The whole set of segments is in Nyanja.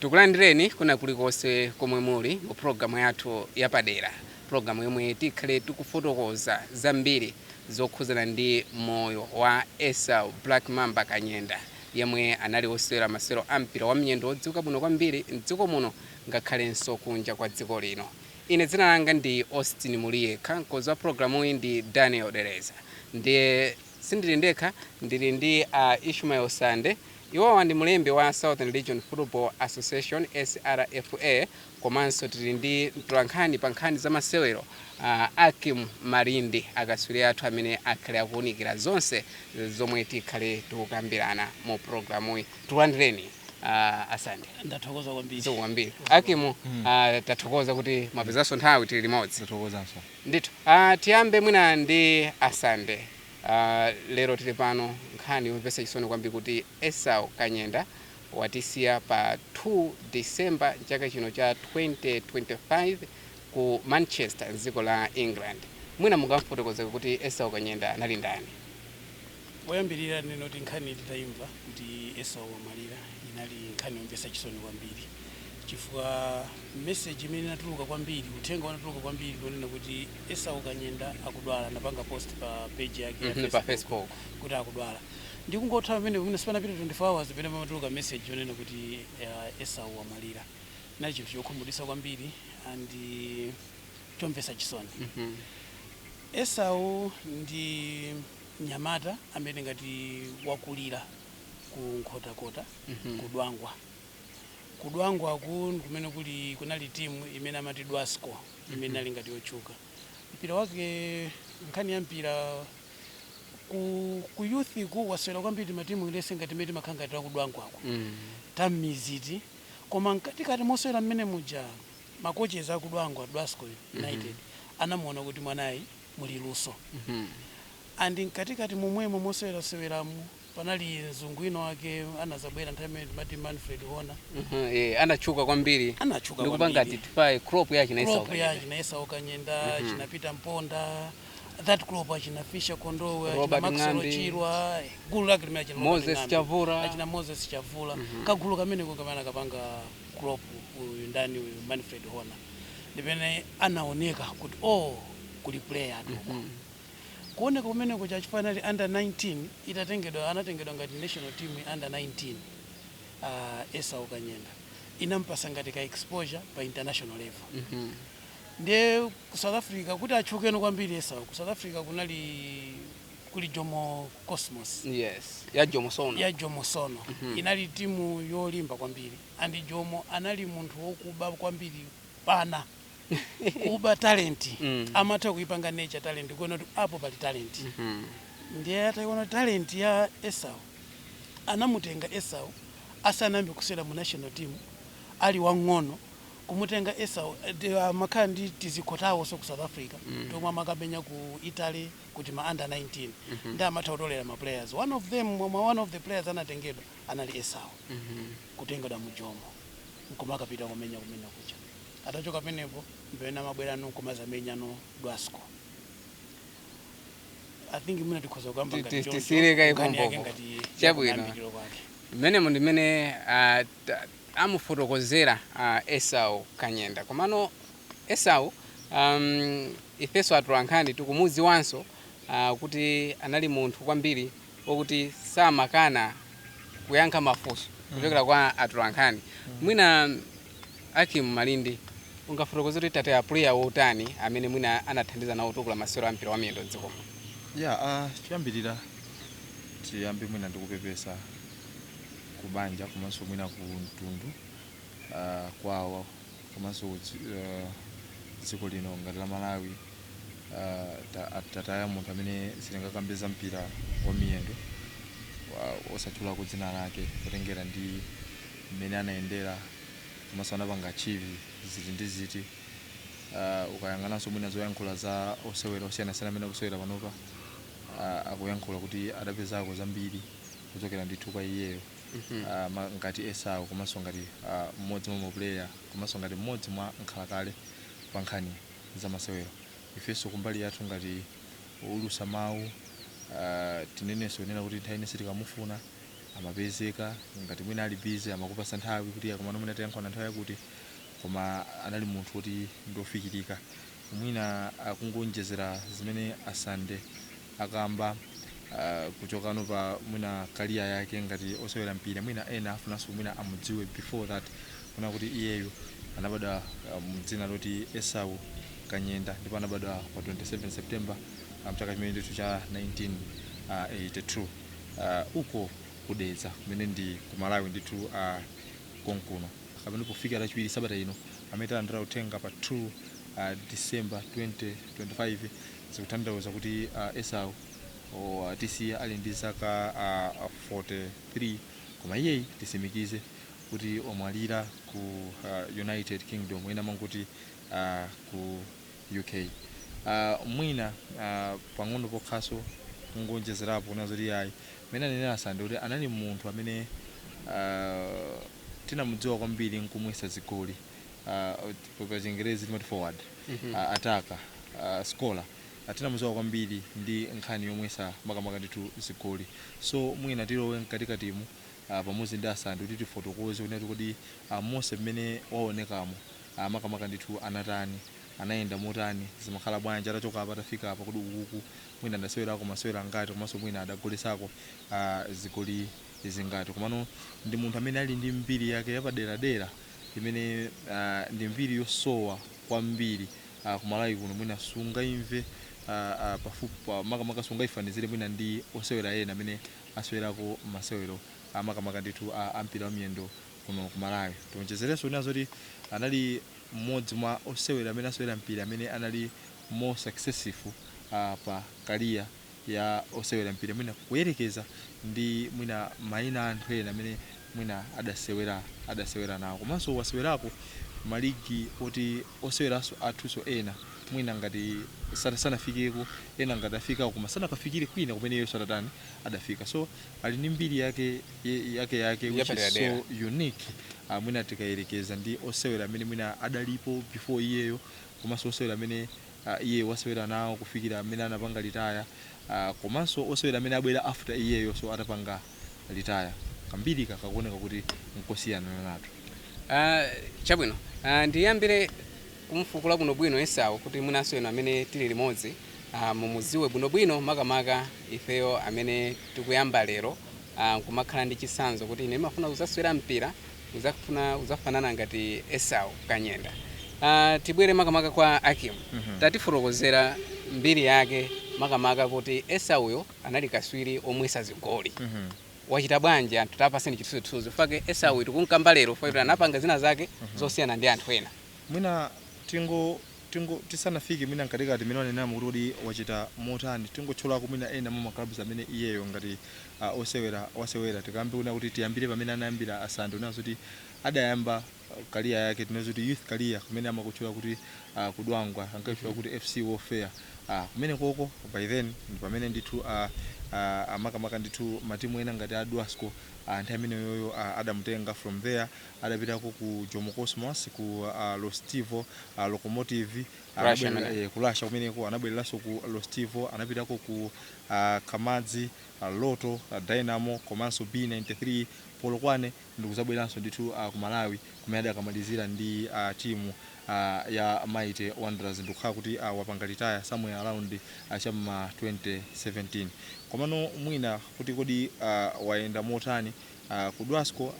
Tikulandireni kwina kulikonse komwe muli mu pulogalamu yathu yapadera, pulogalamu yomwe tikhale tikufotokoza zambiri zokhudzana ndi moyo wa Esau Black Mamba Kanyenda, yemwe anali wosewera masewero a mpira wa miyendo wodziwika bwino kwambiri m'dziko muno ngakhalenso kunja kwa dziko lino. Ine dzina langa ndi Austin Muliyekha, mkonzi wa pulogalamuyi ndi Daniel Dereza. Ndiye. Sindili ndekha, ndili ndi a Ishmael Sande. Iwowa ndi mlembi wa Southern Region Football Association, SRFA, komanso tili ndi mtolankhani pa nkhani za masewero a Ackim Malindi, akatswiri athu amene akhale akuunikira zonse zomwe tikhale tikukambirana mu pulogalamuyi. Tikulandireni a Sande. Ndathokoza kwambiri. Zikomo kwambiri. Ackim, tathokoza kuti mwapezanso nthawi tili limodzi. Tathokozanso. Ndithu. Aaa tiyambe mwina ndi a Sande. Aaa lero tili pano nkhani yomvetsa chisoni kwambiri kuti Esau Kanyenda watisiya pa 2 December mchaka chino cha 2025 ku Manchester mdziko la England. Mwina mungamufotokozeko kuti Esau Kanyenda anali ndani? Poyambirira ndinene kuti nkhani titaimva kuti Esau wamwalira inali nkhani yomvetsa chisoni kwambiri chifukwa message imene inatuluka kwambiri, uthenga unatuluka kwambiri ndi wonena kuti Esau Kanyenda akudwala, anapanga post pa page yake ya Mhm, pa Facebook. Facebook, kuti akudwala ndi kungotha pamenepo mwina sipanapite 24 hours pamene pamatuluka message yonena kuti uh, Esau wamwalira. Chinali chinthu chokhumudwitsa kwambiri and eh, chomvetsa chisoni. Mhm. Esau ndi mnyamata amene tingati wakulira ku Nkhotakota ku Dwangwa. Ku Dwangwaku ndi kumene kuli kunali timu imene amati Dwasco imene inali ngati yotchuka. Mpira wake nkhani ya mpira ku, ku youth ku wasewera kwambiri timatimu let's say ngati imene timakhala ngati ta ku Dwangwaku tam'miziti koma mkatikati mosewera mmene muja makochezi a ku Dwangwa Dwasco United anamuona kuti mwanayi muli luso and mkatikati momwemo moseweraseweramu panali mzungu wina wake anazabwera nthawi imene timati Manfred Honer Mhm, eh, anatchuka kwambiri. Anatchuka kwambiri. ndikupanga identify crop ya china Esau Kanyenda. crop ya china Esau Kanyenda china Peter Mponda that crop achina Fisher Kondowe achina Maxwell Chirwa, Robert Ng'ambi. gulu lake limene achina Robert Ng'ambi, Moses Chavula. achina Moses Chavula kagulu kameneko kamene anakapanga crop uyu ndani uyu Manfred Honer ndi pamene anaoneka kuti o oh, kuli player atuko mm -hmm. kuoneka kumeneko chifukwa anali under 19 itatengedwa anatengedwa ngati national team under 19 uh, ah, Esau Kanyenda inampasa ngati ka exposure pa international level mm -hmm. ndiye ku South Africa kuti atchukeno kwambiri Esau ku South Africa kunali kuli jomo cosmos yes ya jomo sono ya jomo sono mm -hmm. inali timu yolimba kwambiri andi jomo anali munthu wokuba kwambiri panopa kuba talenti mm. amatha kuipanga nurture talenti kuona kuti apo pali talenti mm -hmm. ndiye ataiona talenti ya esau anamutenga esau asanayambe kusewera mu national team ali wang'ono kumutenga esau eh, amakhala ndi tizikho tawonso ku south africa mm. tomwe amakapenya ku italy kuja ma under 19 nde amatha kutolera ma players one of them mwa mwa one of the players anatengedwa anali esau kutengedwa mu jomo nkumakapita kumenya kumene kuja atachoka penepo mpena amabwera kuno nkumazamenya kuno dwasco i think mwina tikhoza kukamba Ti- ngati ti- choncho, tisiyire kaye nkhani yake pompopo. ngati Chabwino. yakuyambiriro kwake mmene munthu mmene ah, amufotokozera a Esau Kanyenda komano Esau um ifeso atolankhani tikumudziwanso uh kuti anali munthu kwambiri okuti samakana kuyankha mafunso kuchokera kwa atolankhani mwina Ackim Malindi ungafotokoze kuti tataya player otani amene mwina anathandiza nawo kutukula masewero a mpira wa miyendo mdziko muno. Yeah uh choyambirira tiyambe mwina ndikupepesa. ku banja komanso mwina ku mtundu uh, kwawo komanso uh, dziko lino ngati la Malawi uh, tataya munthu amene sitingakambe za mpira wa miyendo osatchulako dzina lake kutengera ndi mmene anayendera komanso anapanga achieve zinthu ndi zinthu uh, ukayang'ananso mwina zoyankhula za osewera osiyanasiyana amene akusewera panopa uh, akuyankhula kuti adapezako zambiri kuchokera ndithu kwa iyeyo Ah, ma- ngati esau komanso ngati ah, mmodzi mwa mapuleya komanso ngati mmodzi mwa nkhalakale pa nkhani za masewero ifenso kumbali yathu ngati oulutsa mawu ah, tinenenso kunena kuti nthawi ili yonse tikamufuna amapezeka ngati mwina ali busy amakupatsa nthawi kuti ah komano mwina tiyankhulana nthawi yakuti koma anali munthu woti ndiofikirika mwina kungoonjezera zimene a Sande akamba uh, kuchoka pa mwina career yake ngati osewera mpira mwina ena afunanso mwina amudziwe before that kunena kuti iyeyo anabadwa uh, mdzina loti esau kanyenda ndipo anabadwa pa 27 september uh, mchaka chimene ndithu cha 1982 uh, uko ku Dedza kumene ndi ku malawi ndithu uh, konkuno komwe pofika lachiwiri sabata ino amene talandira uthenga pa 2 uh, december 2025 Zikutanthauza kuti Esau watisiya ali ndi zaka 43, koma iyeyi tisimikize kuti wamwalira ku United Kingdom, ena amangoti ku UK. Mwina pang'ono pokhanso kungoonjezerapo kunena zoti iyayi, mmene anenera Sande kuti anali munthu amene tinamudziwa kwambiri nkumwetsa zigoli, pachingerezi timati forward. a attacker a scorer tinamuziwa kwambiri ndi nkhani yomwetsa makamaka ndithu zigoli so mwina tilowe mkatikatimu a pamodzi ndi a Sande kuti tifotokoze kunena kuti kodi a monse mmene waonekamo a makamaka ndithu anatani anayenda motani zimakhala bwanji atachoka apa atafika apa kodi ukuku mwina adasewerako masewero angati komanso mwina adagolesako a zigoli zingati komano ndi munthu amene ali ndi mbiri yake yapaderadera imene ndi mbiri yosowa kwambiri ku Malawi kuno mwina sungaimve pafupi makamaka sungaifanizire mwina ndi osewera ena amene asewerako masewero makamaka ndithu a mpira wa miyendo kuno ku Malawi. Tionjezerenso kunena zoti anali mmodzi mwa osewera amene asewera mpira amene anali more successful pa career. ya osewera mpira mwina kuyerekeza ndi mwina maina a anthu ena amene mwina adasewera adasewera nawo komanso wasewerako maligi oti oseweranso athuso ena mwina ngati sana- sanafikeko ena ngati afikako koma sanakafikire kwina kumene iyeyoso adatani adafika so ali ndi mbiri yake ye- yake yake which is so unique uh, mwina tikayerekeza ndi osewera amene mwina adalipo before iyeyo komanso osewera amene Iyeyo wasewera nawo kufikira mmene anapanga retire komanso osewera amene abwera after iyeyoso atapanga retire kambirika kakuoneka kuti nkosiyananso. Aaa chabwino aah ndiyambire kumufukula bwino bwino Esau kuti mwinanso inu amene tili limodzi aah mumuziwe bwino bwino makamaka ifeyo amene tikuyamba lero aah nkumakhala ndi chitsanzo kuti ine ndimafuna kuzasewera mpira Udzafuna udzafanana ngati Esau Kanyenda. Uh, tibwere makamaka kwa Akim. Mm -hmm. Tatifotokozerani mbiri yake makamaka kuti Esauyo anali katswiri omwetsa zigoli. Mm -hmm. Wachita bwanji anthu tapatseni chithunzithunzi. Chifukwa chake Esau mhm. tikunkamba lero chifukwa mm -hmm. anapanga zina zake mm -hmm. zosiyana ndi anthu ena. Mwina tingo tingo tisanafike mwina nkatikati mene wanenamo kuti kuti wachita motani tingotchulako mwina ena mwa ma clubs amene iyeyo ngati a osewera wasewera tikambe kunena kuti tiyambire pamene anayambira asante kunena zoti adayamba uh, career yake tinazo kuti youth career kumene amakutchula kuti uh, ku Dwangwa ankaitchula kuti FC Welfare uh, kumenekoko by then ndi pamene ndithu uh, uh, amakamaka ndithu matimu ena ngati a dwasco uh, nthawi imeneyoyo uh, adamutenga from there adapitako ku jomo cosmos ku uh, Rostov uh, Lokomotiv Russia, anabwerera- amene. eh, ku Russia kumeneko anabwereranso ku Rostov anapitako ku uh, KAMAZ a Rotor, a Dynamo komanso B93 Polokwane ndikuzabweranso ndithu a ku Malawi kumene adakamalizira ndi a timu a ya Mighty Wanderers ndikukhala kuti a wapanga retire somewhere around a cha m'ma 2017. Komano mwina kuti kodi a wayenda motani? Uh, ku Dwasco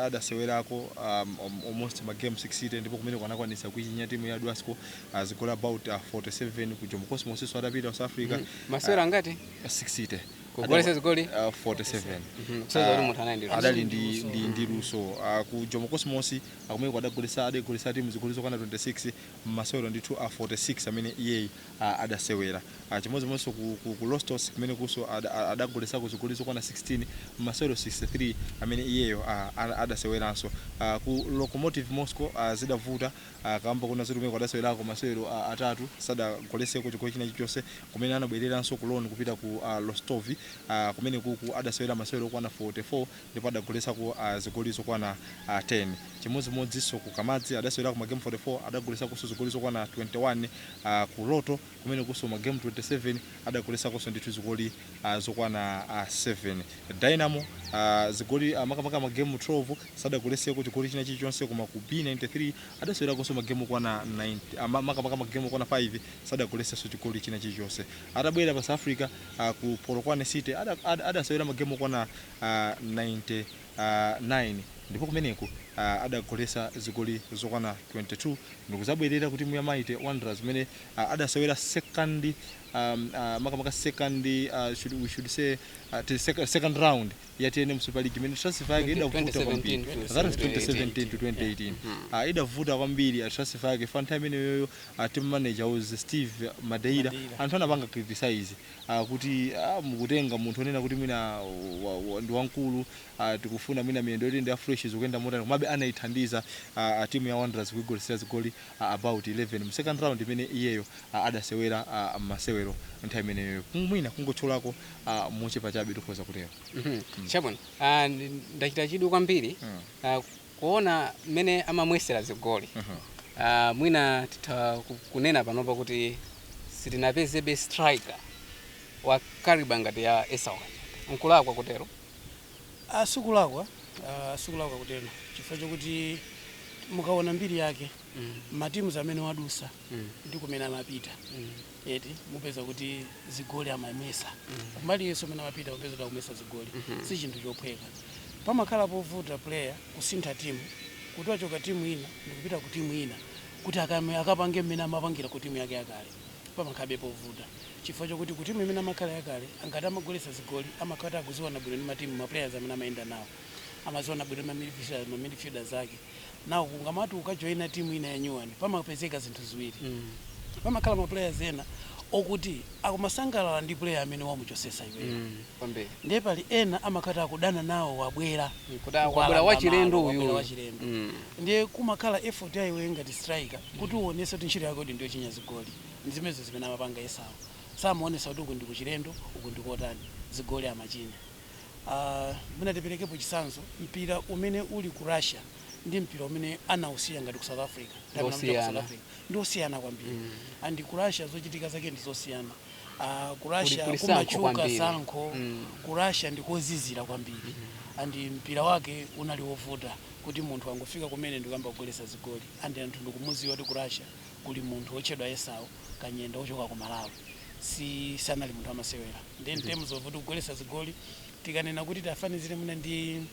adasewerako um, almost ma game 60 ndipo kumeneko anakwanitsa kuichinya timu ya Dwasco uh, zigoli about uh, 47 ku Jomo Cosmos so adapita South Africa mm. masewera uh, ngati 60 kugoletsa zigoli uh, 47 mm -hmm. uh, adali ndi ndi ndi luso uh, ku Jomo Cosmos a kumeneko adagoletsa adagoletsa timu zigoli zokwana 26 mmasewero ndithu a uh, 46 amene iyeyi a adasewera a chimodzimodzinso ku, ku, ku Rostov kumenekonso ada, a- adagoletsako zigoli zokwana 16 mmasewero 63 amene iyeyo a, a, adaseweranso a, ku Lokomotiv Moscow a, zidavuta a, kamba konena zoti kumeneko adasewerako masewero a, atatu sadagoletseko chigoli china chilichonse kumene anabwereranso ku loan kupita ku a, Rostov a, kumenekuku adasewera masewero okwana 44 ndipo adagoletsako uh, zigoli zokwana uh, ah, 10 chimodzimodzinso ku KAMAZ adasewerako magemu 44 adagoletsako zigoli zokwana 21 uh, ku Rotor kumenekonso magemu 27 adagoletsako ndithu zigoli uh, zokwana uh, 7 dynamo uh, zigoli uh, makamaka magemu 12 sadagoletseko chigoli china chilichonse koma ku b93 adasewerakonso magemu okwana 9 uh, makamaka magemu okwana 5 sadagoletsenso chigoli china chilichonse atabwera pa south africa uh, ku polokwane city adasewera ada, ada magemu okwana 99 ndipo kumeneku adagoletsa zigoli zokwana 22 ndikuzabwerera kutimu ya Mighty Wanderers kumene adasewera second makamaka second we should say second round ya tnm super league imene transfer yake idavuta kwambiri that was 2017 to 2018 idavuta kwambiri transfer yake pa nthawi imeneyoyo team manager was Steve Madeira anthu anapanga criticize a kuti a mukutenga munthu onena kuti mwina wa, wa, ndi wamkulu a tikufuna mwina miyendo yoti ndi ya fresh zikuyenda motani komabe anaithandiza a, a timu ya Wanderers kuigoletsera zigoli a, about 11 mu second round imene iyeyo a, adasewera a, masewero nthawi imeneyo Kung- mwina kungotchulako a, mochepa chabe tikhoza kutero Mhm. chabwino Ah, ndi- ndachita chidwi kwambiri Mm. Ah, kuona mmene amamwesera zigoli uh -huh. uh, mwina titha kunena panopa kuti sitinapezebe striker wa kariba ngati ya Esau nkulakwa kutero ah sikulakwa ah, sikulakwa ah, kutero chifukwa chokuti mukaona mbiri yake mm. matimuz amene wadusa mm. ndi kumene amapita mm. eti mupeza kuti zigoli amamwesa kumbali yonse imene amapita mupeza kuti akumwesa zigoli si chinthu chophweka pamakhala povuta player kusintha timu kuti wachoka timu ina ndikupita ku timu ina kuti akame- akapange mmene amapangira ku timu yake yakale pamakhalabe povuta chifukwa chokuti ku timu imene amakhala yakale angati amagolesa zigoli amakhala kuti akuziwana bwino ndi matimu maplayers amene amayenda nawo amaziwana bwino mamidfielders ake Now ukamati ukajoina team ina ya nyuwani pamapezeka zinthu ziwiri. Pamakhala ma players ena okuti akumasangalala ndi player amene wamuchosesa iweyo. Kwambiri. Ndiye pali ena amakhala kuti akudana nawo wabwera. Kuti Wabwera wabwera wachilendo malo, uyu. wabwera wachilendo. Mm. Ndiye kumakhala effort ya iweyo ngati striker kuti uonese kuti ntchito yako ndi yochinya zigoli. Ndi zimenezo zimene amapanga Esau. Samaonesa kuti uku ndikuchilendo, uku ndikotani. Zigoli amachinya. Aaa mwina tiperekepo chitsanzo mpira umene uli ku Russia ndi mpira umene anausiya ngati ku South Africa ndi umene amachita ku South Osiyana. Africa ndi osiyana kwambiri and ku Russia zochitika zake ndi zosiyana Aaa ku Kuli- Russia kuli sankho kumatchuka kwambiri. sankho Mm. ku Russia ndi kozizira kwambiri and mpira wake unali wovuta kuti munthu angofika kumene ndikuyamba kugolesa zigoli and anthu ndikumuziwa kuti ku Russia kuli munthu otchedwa Esau kanyenda ochoka ku Malawi si sanali munthu wamasewera ndi in terms of kuti kugolesa zigoli tikanena kuti tiafanizire mwina ndi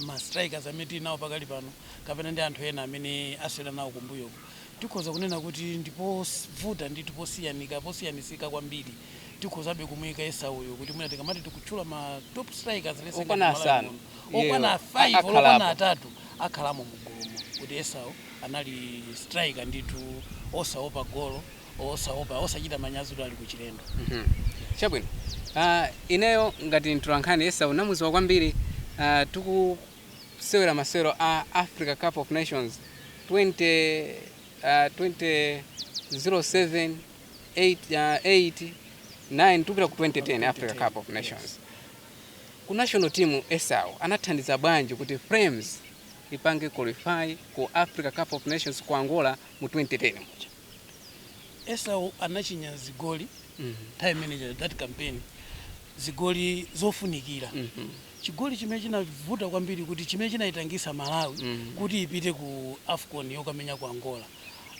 ma strikers amene tili nawo pakali pano kapena ndi anthu ena amene asewera nawo kumbuyoku tikhoza kunena kuti ndi povuta ndithu posiyanika posiyanisika kwambiri tikhozabe kumuika Esau yo kuti mwina tikamati tikutchula ma top strikers let's say Okwana ngati Malawi asanu. muno Iyeyo okwana a- 5 okwana akhalamo. atatu akhalamo mu gulumo kuti Esau anali striker ndithu osaopa golo osaopa osachita manyazi kuti ali kuchilendo mm -hmm. chabwino uh, ineyo ngati mtolankhani Esau ndinamuziwa kwambiri uh, tikusewera masewero a africa cup of nations 20, uh, 2007 8, uh, 8 9 tikupita ku 2010 africa cup of nations yes ku national team esau anathandiza bwanji kuti Flames ipange qualify ku Africa Cup of Nations ku Angola mu 2010 muja. Esau anachinya zigoli mm -hmm. time manager that campaign zigoli zofunikira mm -hmm. chigoli chimene chinavuta kwambiri kuti chimene chinayitangisa Malawi mm -hmm. kuti ipite ku AFCON yokamenya ku Angola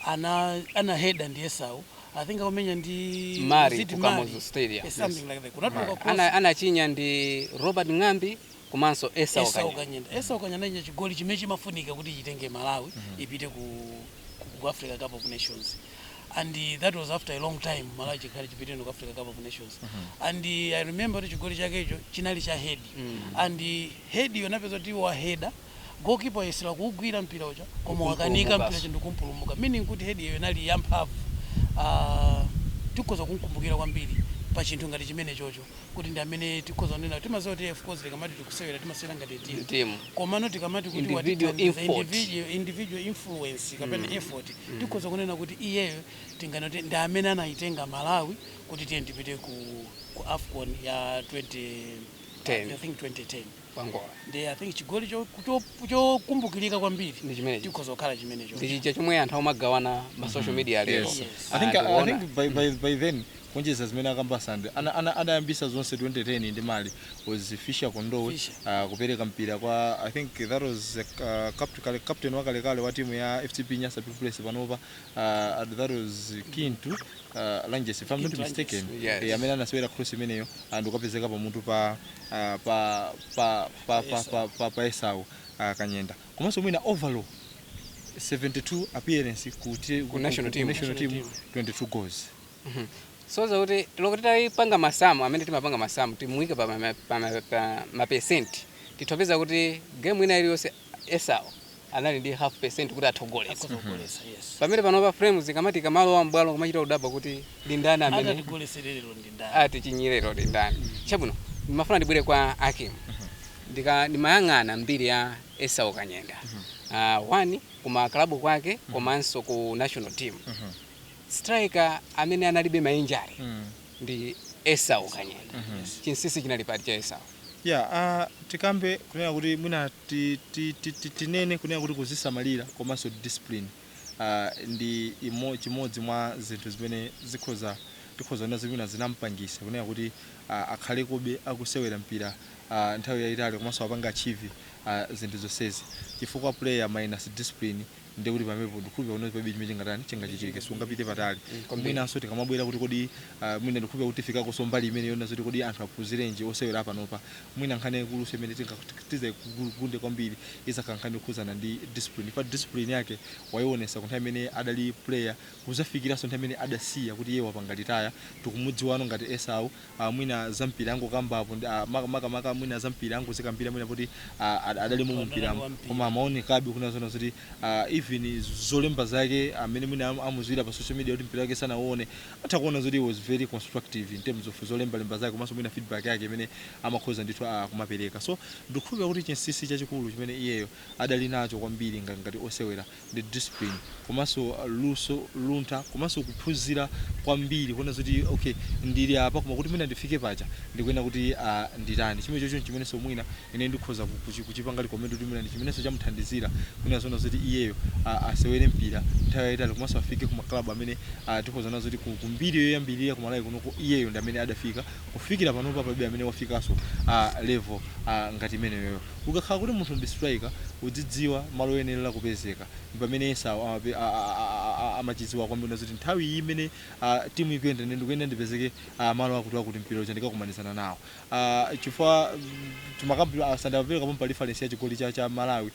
ana ana heda ndi Esau I think akumenya ndi Mali ku Kamuzu Stadium yes. something like that kunatuluka cross ana anachinya ndi Robert Ng'ambi komanso Esau Esau Kanyenda. Kanyenda Esau Kanyenda chigoli chimene chimafunika kuti chitenge Malawi ipite ku, ku, ku Africa Cup of Nations and eh, that was after a long time Malawi chikhalire chipiteno ku Africa Cup of Nations and eh, I remember kuti chigoli chakecho chinali cha head and eh, head iyo napeza kuti wa header goalkeeper wayesera kuugwira mpira uja koma wakanika mpira uja ndikumpulumuka meaning kuti head iyo inali yamphamvu Ah, tikhoza kumkumbukira kwambiri pa chinthu ngati chimene chocho kuti ndi amene tikhoza kunena kuti timaziwa kuti of course tikamati tikusewera timasewera ngati timu. komano tikamati kuti Individual watithandiza effort. individual, individual influence kapena effort tikhoza kunena kuti iyeyo tinganene kuti ndi amene anayitenga malawi kuti tiye tipite ku, ku afcon ya 20, Ten. I think 2010 Ku Angola. Ndiye I think chigoli chokumbukirika cho, cho kwambiri ndi chimenecho. Tikhoza kukhala chimenecho. Ndi chija chomwe anthu amagawana ma mm-hmm. social media lero. Yes. Yes. I think, I think by, by, by then kuonjeza zimene akamba Sande anayambisa ana, ana zonse 2010 ndi Mali was Fisher Kondowe uh, kupereka mpira kwa I think that was uh, captain, captain wakalekale wa timu ya FCB Nyasa Big Bullets panopa uh, that was Kintu uh, Lanjesi if I'm not mistaken Yes. eh, amene anasewera cross imeneyo and kukapezeka pamutu pa ah, pa pa pa pa pa, pa, pa Esau ah, Kanyenda komanso mwina overall 72 appearance ku, ti- ku, national team. national team 22 goals soza kuti olo kuti titaipanga masamu amene timapanga masamu timuike pa ma- pa ma- pa mapesenti titha upeza kuti gemu ina iliyonse Esau anali ndi half percent kuti atha ugolesa pamene panopa Flames ikamati ikamalowa m'bwalo kumachita udaba kuti ndi ndani amene atigolesere lero ndi ndani atichinyire lero ndi ndani chabwino ndimafuna ndibwere kwa a Kim ndika ndimayang'ana mbiri ya Esau Kanyenda uh, one kuma klabu kwake komanso ku national team striker amene analibe mainjari ndi Esau Kanyenda. Mm -hmm. Chinsisi chinali pati cha Esau? Ya, yeah, uh, tikambe kunena kuti mwina ti, ti, ti, ti, tinene kunena kuti kuzisamalira komanso discipline uh, ndi imo, chimodzi mwa zinthu zimene zikhoza tikhoza kunena zimene zinampangisa kunena kuti uh, akhalekobe akusewera mpira uh, nthawi yayitali komanso apange achieve uh, zinthu zonsezi chifukwa player minus discipline ndiye kuti pamenepo ndikukhulupira kuti palibe chimene chingatani chingachitike sungapite patali mwinanso tikamabwera kuti kodi ah, mwina ndikukhulupira kuti tifikakonso mbali imene yonena zoti kodi anthu aphunzirenji osewera apanopa mwina nkhani yaikulunso imene tizagunde kwambiri izakhala nkhani yokhudzana ndi discipline pa discipline yake waionesa ku nthawi imene adali player kuzafikiranso nthawi imene adasiya kuti iye wapanga retire tikumudziwano ngati Esau a mwina zampira ndangokambapo ndi- a, maka- makamaka mwina zampira ndingozikambira mwina poti a, ad- adalimo mumpiramo. koma amaonekabe kunena zoona zoti a, even zolemba zake amene mwina am- amuziwira pa social media kuti mpira wake sanauone atha kuona zoti he was very constructive in terms of zolembalemba zake komanso mwina feedback yake imene amakhoza ndithu a, kumapereka so ndikukhulupira kuti chinsisi chachikulu chimene iyeyo adali nacho kwambiri nga- ngati osewera ndi discipline komanso luntha komanso kuphunzira kwambiri kuona zoti okay ndili apa koma kuti mwina ndifike paja ndikuyenera kuti ah, nditani chimene chocho chimenenso mwina ine ndikhoza ku- kuchi- kuchipanga recommend kuti mwina ndi chimenenso chamuthandizira kunena zoona zoti iyeyo ah, asewere mpira nthawi yayitali komanso afike ku maklabu amene ah, tikhoza kuona zoti ku- kumbiri yoyambirira ku Malawi kunoko iyeyo ndi amene adafika kufikira panopa palibe amene wafikanso ah, level ah, ngati imeneyoyo Ukakhala kuti munthu ndi striker udzidziwa malo oyenelera kupezeka ndi chimene Esau amachidziwa kwambiri zoti nthawi iyi imene team ikuyenda ine ndikuyenera ndipezeke malo akuti akuti mpira uja ndikakumanizana nawo chifukwa timakam- Sande amapereka pompa reference ya chigoli cha cha Malawi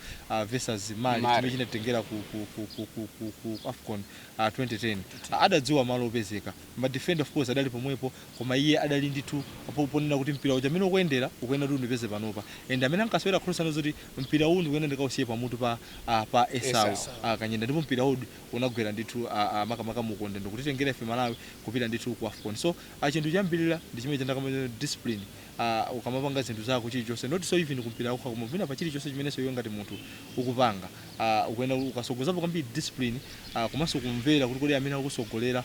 vs Mali chimene chinatitengera ku ku ku ku ku ku ku AFCON 2010 adadziwa malo opezeka ma defender of course adali pomwepo koma iye adali ndithu po ponena kuti mpira uja mmene ukuyendera ukuyenera kuti undipeze panopa and amene ankasewera cross anaona zoti mpira uwu ndikuyenera ndikausiye pamutu pa ah, pa Esau ah, Kanyenda ndipo mpira uwu unagwera ndithu ah, ah, makamaka mu ukonde ndikutitengera ife Malawi kupita ndithu ku AFCON so ah, chinthu choyambirira ndi chimene cha ndakamba discipline ah, ukamapanga zinthu zako chilichonse notso even kumpira kokha koma even pa chilichonse chimenenso iwe ngati munthu ukupanga ah, ukuyenera ukasogozapo kwambiri discipline ah, komanso kumvera kuti kodi amene akukusogolera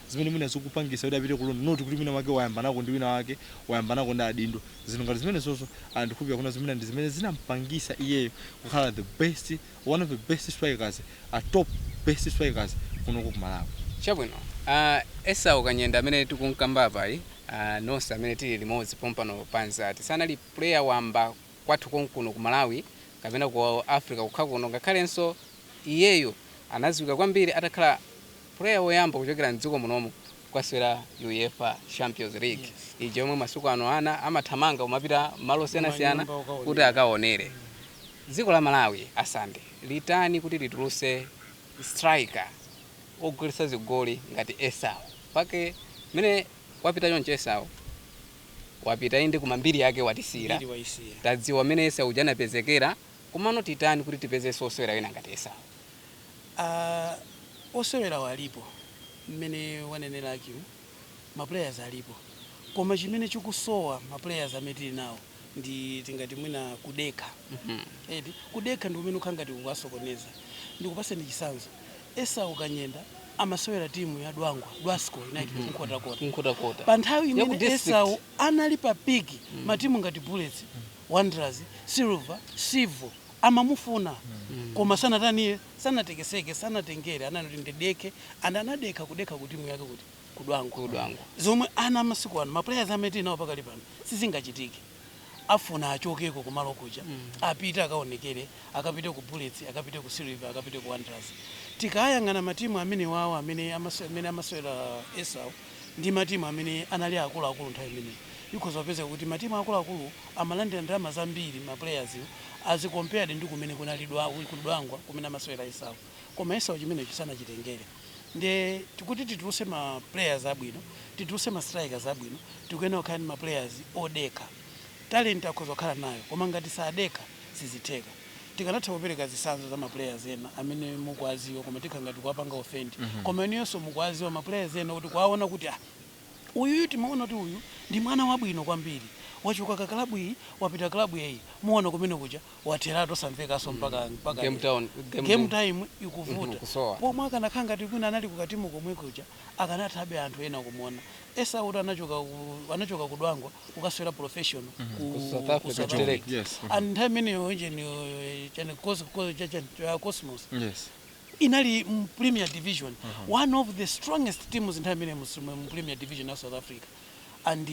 zimene mwina zikupangisa kuti apite ku loan not kuti wina wake wayambanako ndi wina wake, wayambanako ndi adindo, zinthu ngati zimenezozo and ndikukhulupilira kunena zoti mwina ndi zimene zinampangisa iyeyo kukhala the best, one of the best strikers, a top best strikers kunoko ku Malawi. Chabwino uh, Esau Kanyenda amene tikunkamba apayi uh, nonse amene tili limodzi pompano pa Nzati sanali player wamba kwathu konkuno ku Malawi kapena ku Africa kokha kuno ngakhalenso iyeyo anaziwika kwambiri atakhala Player woyamba kuchokera mdziko munomu kukasewera UEFA Champions League ija yomwe masiku ano ana amathamanga kumapita malo osiyanasiyana kuti akawonere. Dziko la Malawi a Sande litani kuti lituluse striker ogolesa zigoli ngati Esau makamaka mmene wapita chonchi Esau wapita inde koma mbiri yake watisiyira tadziwa mmene Esau uja anapezekera komano titani kuti tipezenso osewera ena ngati Esau. Aaa osewerawa alipo mmene wanenera Hakim ma players alipo koma chimene chikusowa ma players amene tili nawo ndi tingati mwina kudekha eti kudekha ndi kumene kukhala ngati kukuwasokoneza ndikupaseni chisanzo Esau Kanyenda amasewera timu ya Dwangwa Dwasco ku Nkhotakota pa nthawi imene Esau anali pa peak matimu ngati Bullets Wanderers Silver Civo amamufuna koma sanatani iye sanatekeseke sanatengere anati ndidekhe and anadekha kudekha ku timu yake kuti ku Dwangwa zomwe ana amasiku ano ma players amene tili nawo pakali pano sizingachitike afuna achokeko kumalo kuja apite akaonekere akapite ku Bullets akapite ku Silver akapite ku Wanderers tikayang'ana matimu amene awo amene amasewera Esau ndi matimu amene anali akuluakulu nthawi imeneyo ikhoza kupezeka kuti matimu akuluakulu amalandira ndalama zambiri ma players as compared ndi kumene kunali ku Dwangwa kumene amasewera Esau koma Esau chimenecho sanachitengere nde tikuti tituluse ma players abwino tituluse ma strikers abwino tikuyenera kukhala ndi ma players odekha talent akhoza kukhala nayo koma ngati sadekha sizitheka Tikanatha kupereka zisanzo za ma players ena amene mukuwaziwa koma tikhala ngati tikuwapanga offend koma inuyonso mukuwaziwa ma players ena kuti kuwaona kuti ah uyuyu timaona kuti uyu ndi mwana wabwino kwambiri wachoka ka club iyi wapita club iyi muona kumene kuja watheratu samvekanso mpaka game time ikuvuta pomwe akanakhala ngati kwina anali ku katimu komwe kuja akanathabe anthu ena kumuona Esau kuti anachoka ku Dwangwa kukasewera professional ku South Africa and nthawi imeneyo chani Cosmos inali mu Premier Division one of the strongest teams nthawi imeneyo mu Premier Division ya South Africa and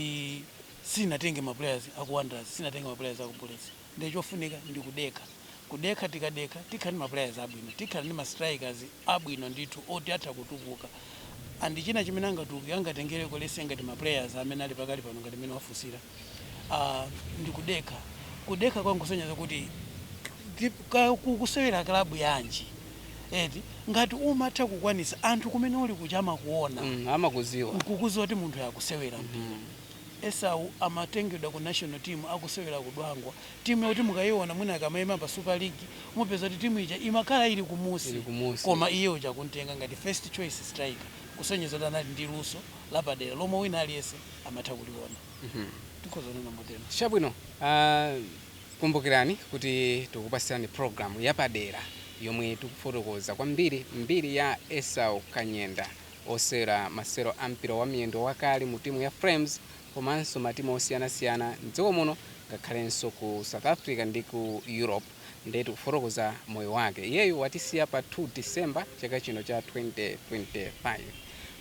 sinatenge ma players aku Wanderers sinatenge ma players aku Bullets Nde chofunika ndi kudekha, kudekha tikadekha tikhala ndi ma players abwino, tikhala ndi ma strikers abwino ndithu oti atha kutukuka and china chimene angatukuke angatengeleko let's say ngati ma players amene ali pakali pano ngati mmene wafunsira aah ndi kudekha, kudekha kwake nkusonyeza kuti ukusewera club yanji eti ngati umatha kukwanisa anthu kumene uli kuja amakuona amakuziwa nkukuziwa kuti munthuyu akusewera mpira. Esau amatengedwa ku national team akusewera ku Dwangwa, timu yoti mukaiona mwina akamaima pa super league mupeza kuti timu ija imakhala ili kumusi koma iye uja akumtenga ngati first choice striker kusonyeza kuti anali ndi luso lapadera lomwe wina aliyense amatha kuliona tikhoza kunena motero. Chabwino, kumbukirani kuti tikupasirani program yapadera yomwe tikufotokoza kwambiri mbiri ya Esau Kanyenda. osewera masewero a mpira wa miyendo wakale mu timu ya Flames komanso matimu osiyanasiyana m'dziko muno ngakhalenso ku South Africa ndi ku Europe nde tikufotokoza moyo wake. Iyeyu watisiya pa 2 December chaka chino cha 2025.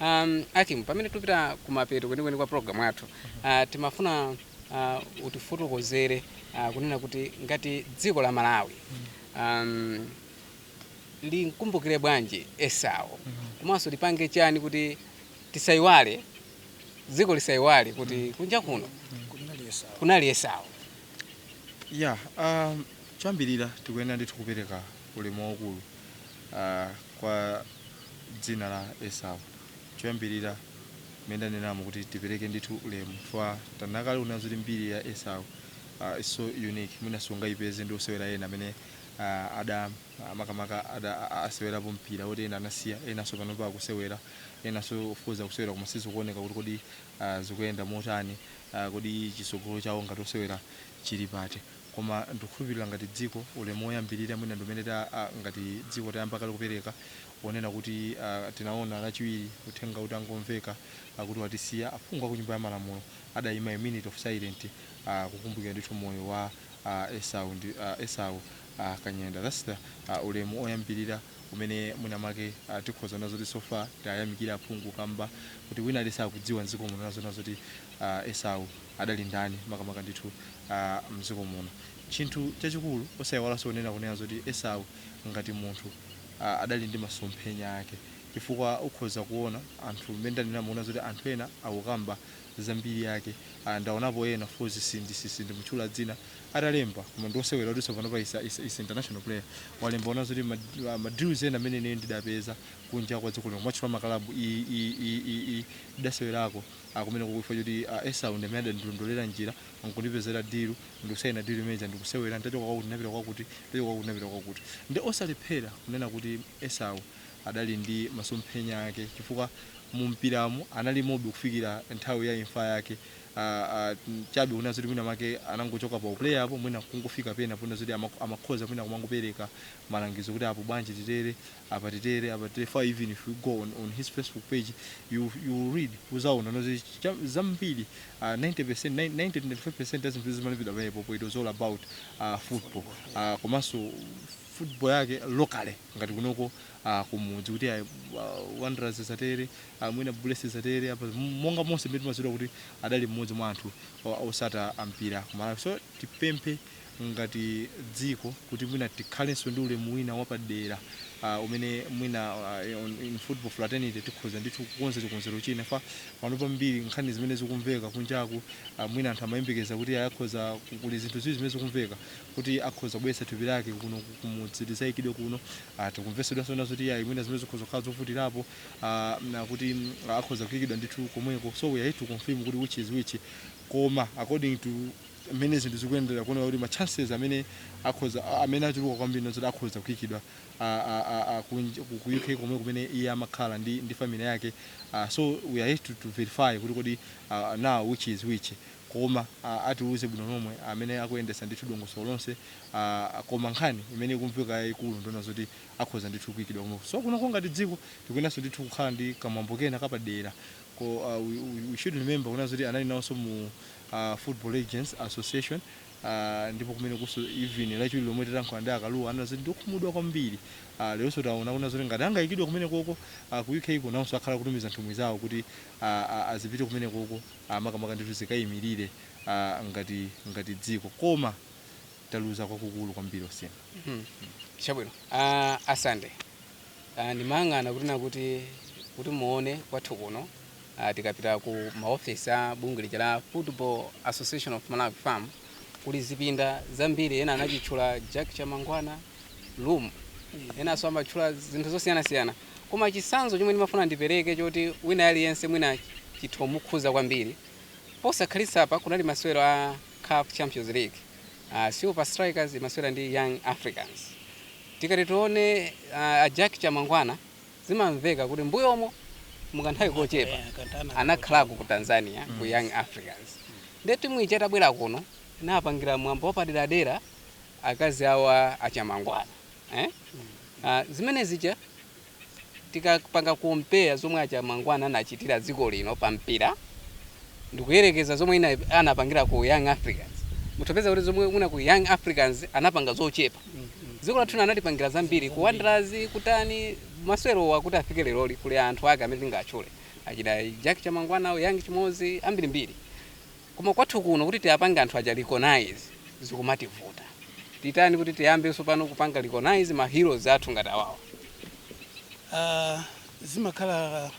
Um, Akim, pamene tikupita kumapeto kwenikweni kwa program yathu uh, timafuna uh, utifotokozere uh, kunena kuti ngati dziko la Malawi um, limkumbukire bwanji Esau komanso lipange chani kuti tisaiwale dziko lisaiwale kuti kunja kuno kunali Esau ya um, choyambirira tikuyenera ndithu kupereka ulemu waukulu uh, kwa dzina la esau choyambirira mmene ndanenamo kuti tipereke ndithu ulemu chifukwa tanena kale kunena zoti mbiri ya esau uh, is so unique mwina sungayipeze ndi osewera ena amene uh, ada uh, makamaka ada uh, asewerapo mpira woti ena anasiya enanso panopa akusewera enanso of course akusewera koma sizikuoneka kuti kodi uh, zikuyenda motani uh, kodi chisogolo chawo ngati osewera chili pati koma ndikukhulupirira ngati dziko ulemu woyambirira mwina ndimene ta ah, ngati dziko tayamba kale kupereka wonena kuti ah, tinaona lachiwiri uthenga utangomveka kuti watisiya aphungu aku nyumba ya malamulo adaima a minute of silence kukumbukira ndithu moyo wa a Esau ndi a Esau a Kanyenda that's the a ulemu oyambirira umene mwina mwake a tikhoza kunena zoti so far tiwayamikire aphungu kamba kuti wina aliyense akudziwa mdziko muno kunena zoti a Esau adali ndani makamaka ndithu a mdziko muno chinthu chachikulu osaiwalanso kunena kunena zoti Esau ngati munthu a adali ndi masomphenya ake chifukwa ukhoza kuona anthu mmene ndanenamo kunena zoti anthu ena akukamba za mbiri yake ah, ndaonapo ena of course sindi si- sindimutchula dzina atalemba koma ndiosewera kuti panopa is a, is a, is a international player walemba kunena zoti ma, ma- ma deals ena amene ine ndidapeza kunja kwa dziko lino kumatchula makalabu i- i- i- i- i- ndidasewerako ah, kumene kukhuza zoti ah, esau ndi amene adandilondolera njira nkundipezera dilu ndikusayina dilu imeneja ndikusewera ndachoka kwakuti ndinapita kwakuti ndachoka kwakuti ndinapita kwakuti ndi osalephera kunena kuti esau adali ndi masomphenya ake chifukwa mu mpiramo analimobe kufikira nthawi ya imfa yake Ah, ah, mm, chabe kunena zoti mwina make anangochoka pa uplayer apo mwina kungofika pena ponena zoti amak- amakhoza mwina kumangopereka malangizo kuti apo bwanji titere apa titere apa titere for even if you go on, on his facebook page you, you read uzaona zoti cha- zambiri uh, 90% 90 95% ya zinthu zimene zimapita pamenepo it was all about uh, football uh, komanso football yake locally ngati kunoko uh, kumudzi kuti uh, wanderers zatere uh, mwina bullets zatere apa monga monse mmene timadziwira kuti adali mmodzi mwa anthu o- otsata mpira ku Malawi so tipemphe ngati dziko kuti mwina tikhalenso ndi ulemu wina wapadera uh, umene mwina uh, on- in football fraternity tikhoza ndithu kukonza chikonzero china fam pano pambiri nkhani zimene zikumveka kunjaku uh, mwina anthu amayembekeza kuti ayakhoza kuli zinthu ziwiri zimene zikumveka kuti akhoza kubweretsa thupi lake kuno ku- kumudzi lizaikidwe kuno Ah, tikumvetsedwanso zoti ayi mwina zimenezo zikhoza kukhala zovutirapo ah, na kuti mm, akhoza kuikidwa ndithu komweko so we are yet to confirm kuti which is which koma according to mmene zinthu zikuyendera kuoneka kuti ma chances amene akhoza a- amene achuluka kwambiri n'zoti akhoza kuikidwa ah, ah, ah, ah, kunj- ku ku uk komwe kumene iye amakhala ndi, ndi family yake Ah, so we are here to, to verify kuti kodi ah, now which is which koma atiuze bwino lomwe amene akuyendesa ndithu dongosolo lonse koma nkhani imene ikumveka yaikulu ndiyonena zoti akhoza ndithu kuikidwa komwe so kunoko ngati dziko tikuyeneranso ndithu kukhala ndi kamwambo kena kapadera ko uh, we, we we should remember kunena zoti anali nawonso mu uh, football legends association uh, ndipo kumeneko so even lachiwiri lomwe titayankhula ndi a Kalua anena zoti ndiokhumudwa kwambiri uh, leronso taona kunena zoti ngati angayikidwe kumene koko uh, ku uk ku nawonso akhala akutumiza nthumwi zawo kuti uh, uh, azipite kumene koko a makamaka ndithu zikayimirire a ngati ngati dziko koma taluza kwakukulu kwambiri osiyana Mhm. chabwino Ah, a Sunday Ah, ndimayang'ana kuti nakuti kuti muone kwathu kuno ah, tikapita ku maofisi a bungwe lija la football association of malawi fam kuli zipinda zambiri ena anachitchula jack chamangwana room enanso amatchula zinthu zosiyanasiyana Koma chitsanzo chomwe ndimafuna ndipereke choti wina aliyense mwina chithomukhudza kwambiri, posakhalitsapa kunali masewero a caf Champions League, Silver Strikers imasewera ndi Young Africans. Tikati tione a Jack Chamangwana zimamveka kuti mbuyomo mu kanthawi kochepa anakhalako ku Tanzania ku Young Africans nde timu ija itabwera kuno inapangira mwambo wapaderadera, akazi awo a Chamangwana. eeh aah zimene zija tikapanga compare zomwe a Chamangwana anachitira dziko lino pa mpira ndikuyerekeza zomwe mwina anapangira ku Young Africans mutha kupeza kuti zomwe mwina ku Young Africans anapanga zochepa dziko lathu lino anatipangira zambiri ku Wanderers kutani masewerowa kuti afike leroli kuli anthu ake amene tingawatchule achina Jack Chamangwana, Young Chimodzi ambirimbiri. Koma kwathu kuno kuti tiwapange anthu aja recognize zikumativuta. Titani kuti tiyambe tsopano kupanga recognize ma heroes athu ngati awawo? Uh, zimakhala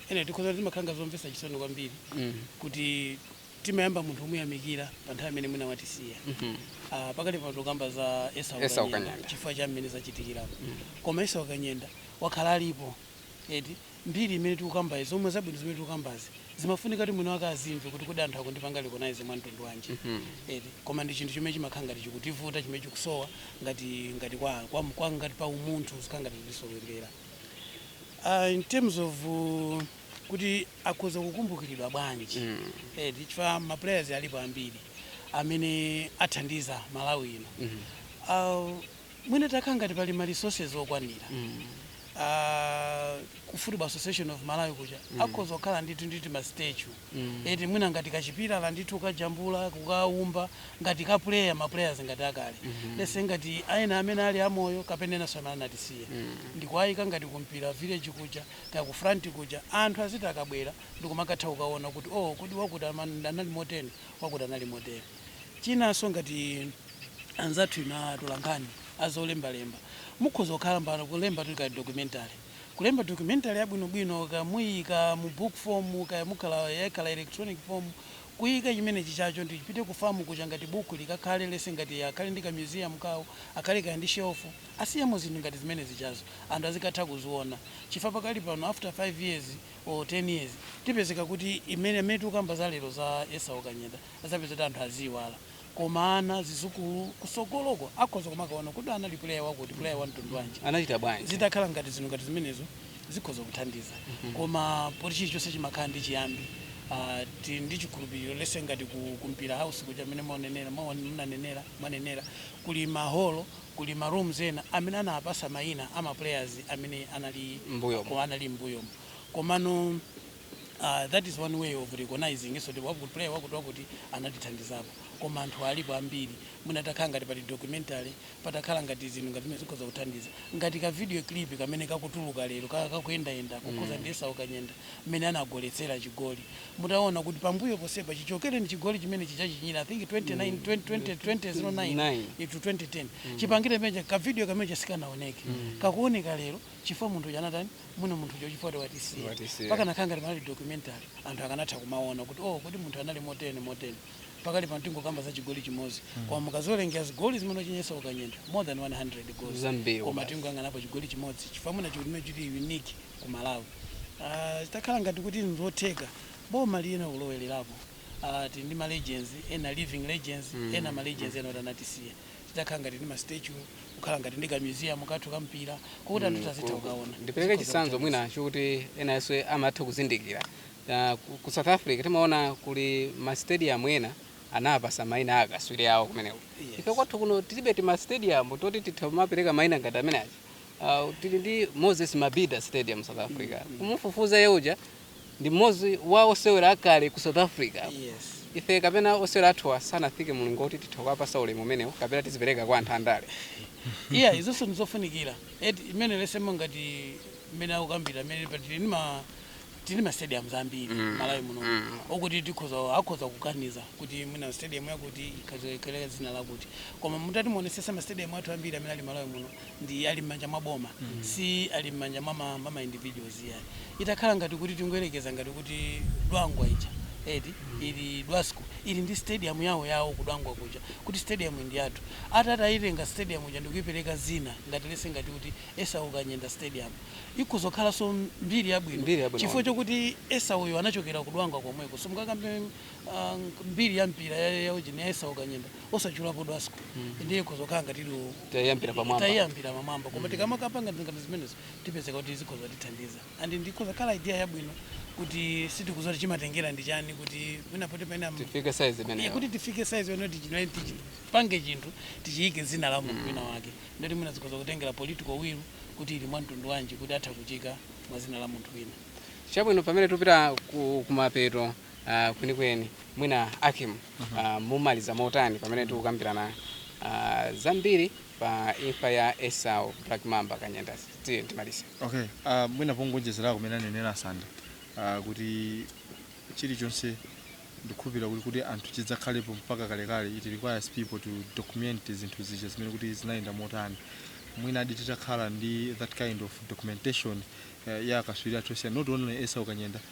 ene tikhoza kuti zimakhala ngati zomvetsa chisoni kwambiri mm. kuti timayamba munthu kumuyamikira pa nthawi imene mwina watisiya mm -hmm. uh, pakali pano tikukamba za Esau Kanyenda chifukwa cha mmene zachitikira mm. koma Esau Kanyenda wakhala alipo eti mbiri imene tikukambayi zomwe zabwino zimene tikukambazi zimafunika kuti mwini wake azimve kuti kodi anthu akundipanga recognize mwa mtundu wanji eti koma ndi chinthu chimene chimakhala ngati chikutivuta chimene chikusowa ngati ngati kwa, kwa, kwa ngati pa umunthu zikukhala ngati zikutisowekera uh, in terms of uh, kuti akhoza kukumbukiridwa bwanji mm. eti chifukwa ma players alipo ambiri amene athandiza Malawi ino mm -hmm. uh, Mwina patakhala ngati pali ma resources okwanira a ku Football Association of Malawi kuja akhoza kukhala ndithu ndi tima statue eti mwina ngati ka chipilala ndithu kukajambula, kukaumba ngati ka player, ma players ngati akale lets say ngati ena amene ali amoyo kapena enanso amene anatisiya ndikuwaika ngati ku Mpira village kuja kaya ku Front kuja anthu aziti akabwera ndikumakatha kukaona kuti oh kodi wakuti anali moteni, wakuti anali motere. Chinanso ngati anzathu inu atolankhani azolembalemba mukhoza kukhala mpakana kulemba kaya documentary kulemba documentary yabwinobwino kaya muyiika mu book form kaya mukhala yakhala electronic form kuyika chimenechicho chipite ku FAM kuja ngati buku likakhale lets say ngati akhale ndi ka museum kawo akhale kaya ndi shelf asiyemo zinthu ngati zimenezijazo anthu azikatha kuziona chifukwa pakali pano after 5 years or 10 years tipezeka kuti imene amene tikukamba za lero za Esau Kanyenda adzapeza kuti anthu aziiwala koma ana zidzukulu kutsogoloko akhoza kumakaona kodi anali player wakuti player wa mtundu wanji anachita bwanji zitakhala ngati zinthu ngati zimenezo zikhoza kuthandiza koma poti chilichonse chimakhala ndi chiyambi ah, ti- ndi chikhulupiriro lets say ngati ku, ku mpira house kuja amene mwanenera mwa- mnanenera mwanenera kuli maholo kuli ma rooms ena amene anapatsa mayina ama players amene anali M'mbuyomo. ko- anali mbuyomo komano uh, that is one way of recognizing so wakuti player wakuti wakuti anatithandizapo koma anthu alipo ambiri mwina patakhala ngati pali documentary patakhala ngati zinthu ngati zimene zikhoza kuthandiza ngati ka video clip kamene kakutuluka lero kaka kakuyendayenda kukhudza ndi Esau Kanyenda mmene anagoletsera chigoli mutaona kuti pambuyo ponsepa chichokere ndi chigoli chimene chija chichinyire i think 29 20 20 2009 Nine. to 2010 chipangire muja ka video kameneka sikanaoneke kakuoneka lero chifukwa munthu uja anatani mwina munthu uja chifukwa watisiya Watisiya. pakanakhala ngati panali documentary anthu akanatha kumaona kuti oh kodi munthu anali motene motene pakali pano tingokamba za chigoli chimodzi koma mukaziwerengera zigoli zimene wachinyitsa Esau Kanyenda more than 100 goals Zambiri koma basi. tingoyang'anapo chigoli chimodzi chifukwa mwina chigoli chili unique ku malawi Ah, zitakhala ngati kuti nzotheka boma lina kulowererapo Ah, tili ndi ma legends ena living legends ena ma legends ena kuti anatisiya zitakhala ngati ndi ma statue, kukhala ngati ndi ka museum kathu ka mpira kokuti anthu azitha kukaona. Ndipereke chitsanzo mwina chokuti enaso amatha kuzindikira. Ku South Africa timaona kuli ma stadium ena anawapatsa maina a akatswiri awo kumeneko. Ife kwathu kuno tilibe tima stadium toti titha kumapereka maina ngati amene aja. Tili ndi Moses Mabhida stadium South Africa. Kumufufuza iye uja Ndi mmodzi wa osewera akale ku South Africa. Ife kapena osewera athuwa sanafike mlingo woti titha kuwapatsa ulemu umenewo kapena tizipereka kwa anthu andale. Iyayi, izonso n'zofunikira. Eti, imeneyo yosema ngati mmene akukambira mmene pa tili ndi ma tili ma stadiums ambiri Malawi muno okuti tikhoza akhoza kuganiza kuti mwina stadium yakuti ikhazikike dzina lakuti. Koma mutati muonetsetsa ma stadium athu ambiri amene ali Malawi muno nde ali m'manja mwa boma si ali m'manja mwa ma, mwa ma individuals iya itakhala ngati kuti tingoyerekeza ngati kuti Dwangwa ija eti Illovo Dwasco ili ndi stadium yawo yawo ku Dwangwa kuja kuti stadium iyi ndi yathu atati ayitenge stadium ija ndikuipereka dzina ngati lese ngati kuti Esau Kanyenda stadium ikhoza kukhalanso mbiri yabwino Mbiri yabwino chifukwa kwambiri. chokuti Esauyo anachokera ku Dwangwa komweko simungakambe Ah, nk- mbiri ya mpira ya- ya ujeni ya Esau Kanyenda osatchulapo Dwasco ndiye kuzokhala ngati iliwo Tayambira pamwamba. tayambira pamwamba koma tikamakapanga ngati zimenezo tipezeka kuti zikhoza tithandiza and ikhoza khala idea yabwino kuti sitikudziwa kuti chimatengera ndi chani kuti mwina poti pena Tifike size Iye imeneyo. kuti tifike size yonena tichipange chinthu tichiyike dzina la munthu wina wake ndoti mwina zikhoza kutengera political will kuti ili mwa mtundu wanji kuti atha kuchiika mwa dzina la munthu wina Chabwino pamene tupita ku kumapeto Uh, kwenikweni mwina Hakim uh mhm. -huh. uh, mumaliza motani pamene tikukambirana uh, zambiri pa imfa ya Esau Black Mamba Kanyenda tiye timalize. Okay, uh, mwina pongonjezera kumene anenera Sanda uh, kuti chilichonse ndikhulupirira kuti kuti anthu chidzakhalepo mpaka kalekale it requires people to document zinthu zija zimene kuti zinayenda motani mwina adi titakhala ndi that kind of documentation uh, ya akatswiri athu osiyana not only Esau Kanyenda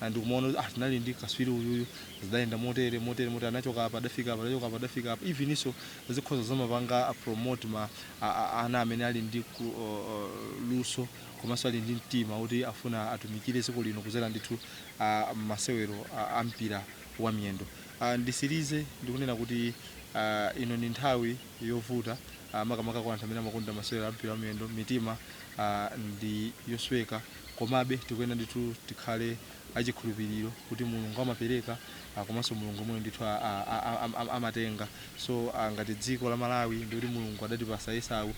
Ah, ndikumaona kuti ah, tinali ndi kaswiri uyuyu zidayenda motere motere motere anachoka apa adafika apa anachoka apa adafika apa eveninso zikhoza zomapanga a promote ma a, a, ana amene ali ndi ku, o, o, luso komanso ali ndi mtima kuti afuna atumikire dziko lino kudzera ndithu ah, masewero ah, a mpira wa miyendo Ah, nditsirize ndikunena kuti ah, ino ndi nthawi yovuta ah, makamaka kwa anthu amene amakonda masewero a mpira wa miyendo mitima ah, ndi yosweka Komabe, tikuyenera ndithu tikhale achikhulupiliro kuti Mulungu amapereka komanso Mulungu yemweyo ndithu amatenga. So ngati dziko la Malawi ndikuti Mulungu adatipatsa Esau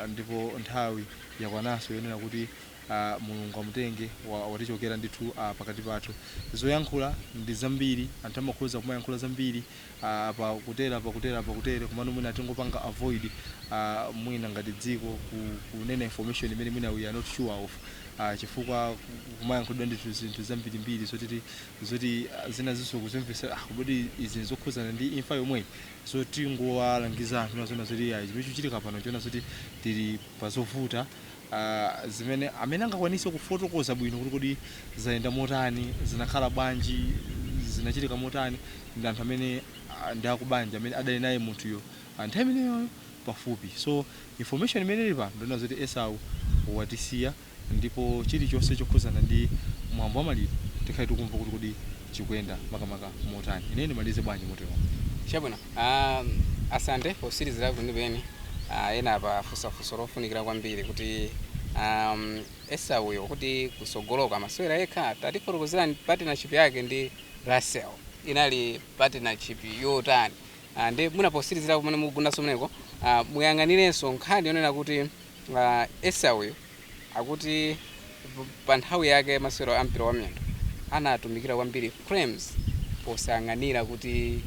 ndipo nthawi yakwananso yonena kuti Mulungu amutenge, watichokera ndithu pakati pathu. Zoyankhula ndi zambiri, anthu amakhoza kumayankhula zambiri. apa kutere apa kutere apa kutere komano mwina tingopanga avoid uh, mwina ngati dziko kunena information imene mwina we are not sure of uh, chifukwa kumayankhulidwa ndithu zinthu zambirimbiri zoti zoti zina zinso kuzimvetsa ah, kodi izi nzokhudzana ndi imfa yomweyi so tingowalangiza anthu ndiyonena zoti ayi zimene chikuchitika pano nchonena zoti tili pazovuta a zimene amene angakwanitse kufotokoza bwino kuti kodi zayenda motani, zinakhala bwanji, zinachitika motani ndi anthu amene a ndi akubanja amene adali naye munthuyo a nthawi imeneyoyo pafupi. So, information imene ili pano ndiyonena zoti Esau watisiya ndipo chilichonse chokhudzana ndi mwambo wa maliro tikhale tikumva kuti kodi. chikuyenda makamaka motani? Ineyo ndimalize bwanji moteromo? Chabwino. Um, Asante potsirizira kwenikweni uh, ena apa afunsa funso lofunikira kwambiri kuti um, Esauyo kuti kutsogoloku amasewera yekha tatifotokozerani partnership yake ndi Russell inali partnership yotani uh, ndi mwina potsirizira komwe mukugundanso m'meneko uh, muyang'anirenso nkhani yonena kuti uh, Esauyo Akuti pa nthawi yake masewero a mpira wa miyendo anatumikira kwambiri Flames posayang'anira kuti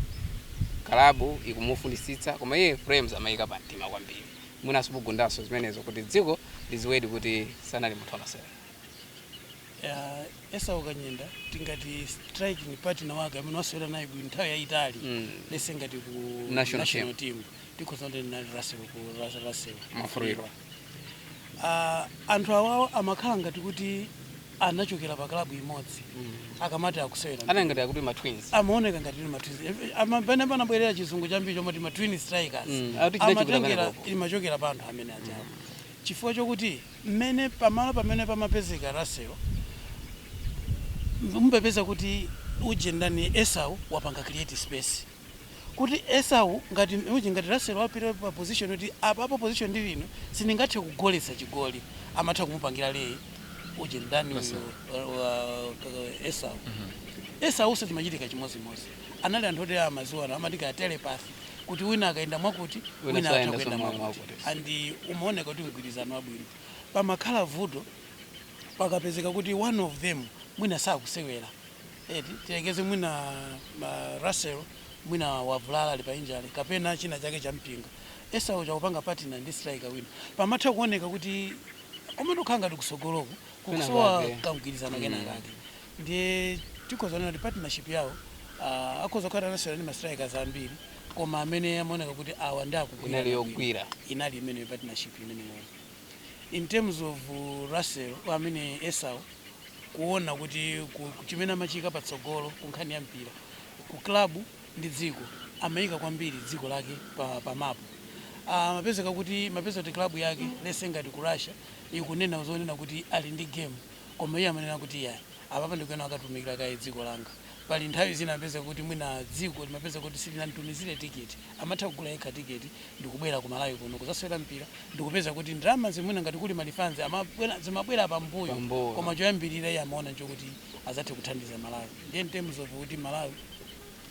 kalabu ikumufunitsitsa koma iye Flames amaiyika pa mtima kwambiri. Mwinanso mugundanso zimenezo kuti dziko lidziwedi kuti sanali munthu wa masewero. Yeah, Esau Kanyenda tingati striking partner wake amene wasewera naye bwino nthawi yayitali Mm. lese ngati ku National national team tikhoza kuti anali Russell ku Russell Russell Mwafulirwa. Ah, anthu awawa amakhala ngati kuti anachokera pa klabu imodzi akamati akusewera anali ngati akuti ma twins amaoneka ngati ndi matwins pamene panabwerera chizungu chambiri chomati ma twin strikers Mm, akuti chinachokera amatengera pamenepo. imachokera pa anthu amene ajawo chifukwa chokuti mmene pamalo pamene pamapezeka Russell mupeza kuti ujeni ndani Esau wapanga create space kuti Esau ngati uje ngati Russell wapita pa position yoti apapo position ndili ino sindingathe kugoletsa chigoli amatha kumupangira lay uje ndani Russell. uyu wa- wa- wa- Esau Esaunso zimachitika chimodzimodzi anali anthu oti amaziwana amati kaya telepathy kuti wina akayenda mwakuti Wina wina atha sayenda kuyenda somwe mwakuti mwakuti. and umaoneka kuti mgwirizano wabwino pamakhala vuto pakapezeka kuti one of them mwina sakusewera eti tiyerekeze mwina ma Russell mwina wavulala ali pa injury kapena china chake champinga Esau uja kupanga partner ndi striker wina pamatha kuoneka kuti komatu kukhala ngati kusogoloku kukusowa Kenakake. kamgwirizano kena kake ndiye tikhoza kunena kuti partnership yawo ah, akhoza kukhala anasewera ndi ma strikers ambiri koma amene amaoneka kuti awa ndi akugwira inali yogwira inali imene partnership imeneyo in terms of Russell amene Esau kuona kuti ku ku chimene amachiika patsogolo ku nkhani ya mpira ku club ndi dziko amaika kwambiri dziko lake pa pa map ah amapezeka kuti mapeza kuti club yake lese ngati ku Russia ikunena zonena kuti ali ndi game koma iye amanena kuti iyayi apapa ndikuyenera nkatumikire kaye dziko langa pali nthawi zina amapezeka kuti mwina dziko limapezeka kuti silinamtumizire ticket amatha kugula yekha tiketi ndikubwera ku Malawi kuno kudzasewera mpira ndikupeza kuti ndalama zimwina ngati kuli ma refunds amabwera zimabwera pambuyo Pambuyo. koma choyambirira iye amaona nchokuti adzathe kuthandiza Malawi ndiye in terms of kuti Malawi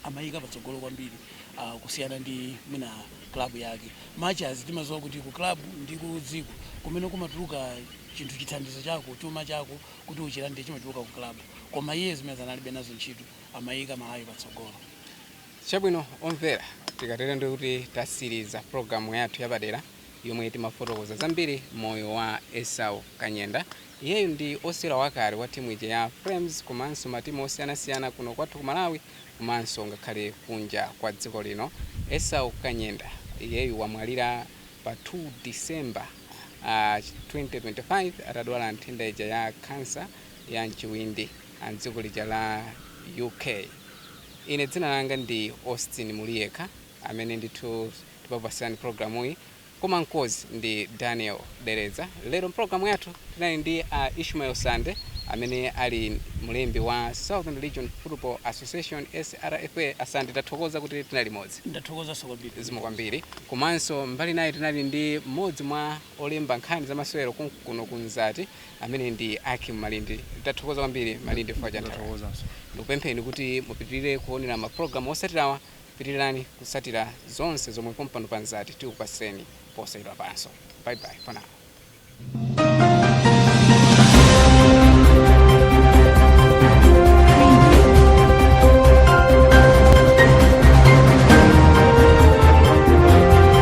amayika patsogolo kwambiri uh, kusiyana ndi mwina club yake much as timaziwa kuti ku club ndi ku dziko kumene kumatuluka chinthu chithandizo chako chuma chako kuti uchilande chimatuluka ku club koma iye zimene analibe nazo ntchito amayika Malawi patsogolo Chabwino omvera, tikatere ndiye kuti tatsiriza pulogalamu yathu yapadera yomwe timafotokoza zambiri moyo wa Esau Kanyenda. Iyeyu ndi osewera wakale wa timu ija ya Flames komanso matimu osiyanasiyana kuno kwathu ku Malawi komanso ngakhale kunja kwa dziko lino. Esau Kanyenda iyeyu wamwalira pa 2 December, uh, 2025 atadwala nthenda ija ya khansa ya mchiwindi. a m'dziko lija la UK. Ine dzina langa ndi Austin Muliyekha amene ndithu ndimakupatsirani pulogalamuyi koma mkonzi ndi Daniel Dereza. Lero mpulogalamu yathu tinali ndi a Ishmael Sande amene ali mlembi wa Southern Region Football Association SRFA. A Sande tathokoza kuti tinali limodzi. ndathokozanso kwambiri zikomo kwambiri komanso mbali inayi tinali ndi mmodzi mwa olemba nkhani zamasewero konkuno ku Mzati amene ndi Ackim Malindi. Tathokoza kwambiri Malindi chifukwa cha nthawi yanu. Ndikupempheni kuti mupitilire kuonera ma program osatirawa. Pitilirani kusatira zonse zomwe pompano pa Mzati tikupasireni posachedwapanso. Bye bye for now.